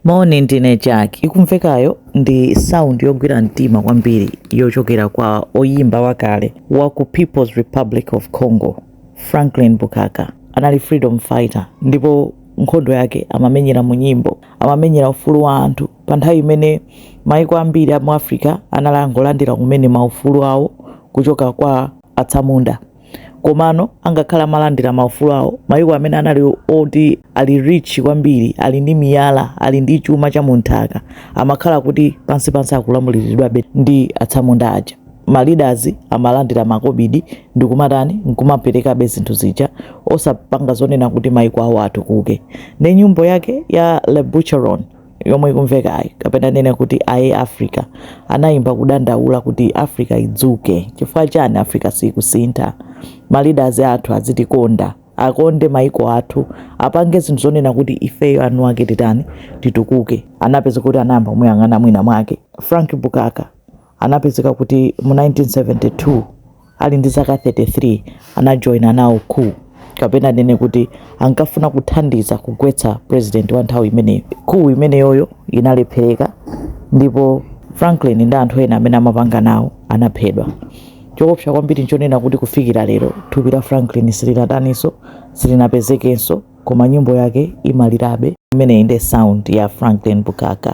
Moni ndine Jack. Ikumvekayo ndi sound yogwira mtima kwambiri yochokera kwa oyimba wakale wa ku People's Republic of Congo, Franklin Bukaka. Anali freedom fighter ndipo nkhondo yake amamenyera mu nyimbo, amamenyera ufulu wa anthu pa nthawi imene maiko ambiri a mu Africa anali angolandira kumene maufulu awo kuchoka kwa atsamunda. Komano, angakhale amalandira maufulu awo, mayiko amene anali oti ali rich kwambiri, ali ndi miyala, ali ndi chuma cha mu nthaka, amakhala kuti pansipansi akulamuliridwabe ndi atsamunda aja. Ma leaders amalandira makobidi ndi kumatani, nkumaperekabe zinthu zija, osapanga zonena kuti mayiko awo atukuke. Nde nyimbo yake ya Le Bucheron, yomwe ikumvekayi kapena ndinene kuti aye africa anayimba kudandaula kuti africa idzuke chifukwa chani africa siyikusintha maleaders athu azitikonda akonde maiko athu apange zinthu zonena kuti ifeyo anthu ake titani titukuke anapezeka kuti anayamba kumuyang'ana mwina mwake frank bukaka anapezeka kuti mu 1972 ali ndi zaka 33 anajoyina nawo coup kapena ndinene kuti ankafuna kuthandiza kugwetsa president wa nthawi imeneyo coup imeneyoyo inalephereka ndipo franklin ndi anthu ena amene amapanga nawo anaphedwa choopsa kwambiri nchonena kuti kufikira lero thupi la franklin silinataninso silinapezekenso koma nyimbo yake imalirabe imeneyi ndi sound ya franklin bukaka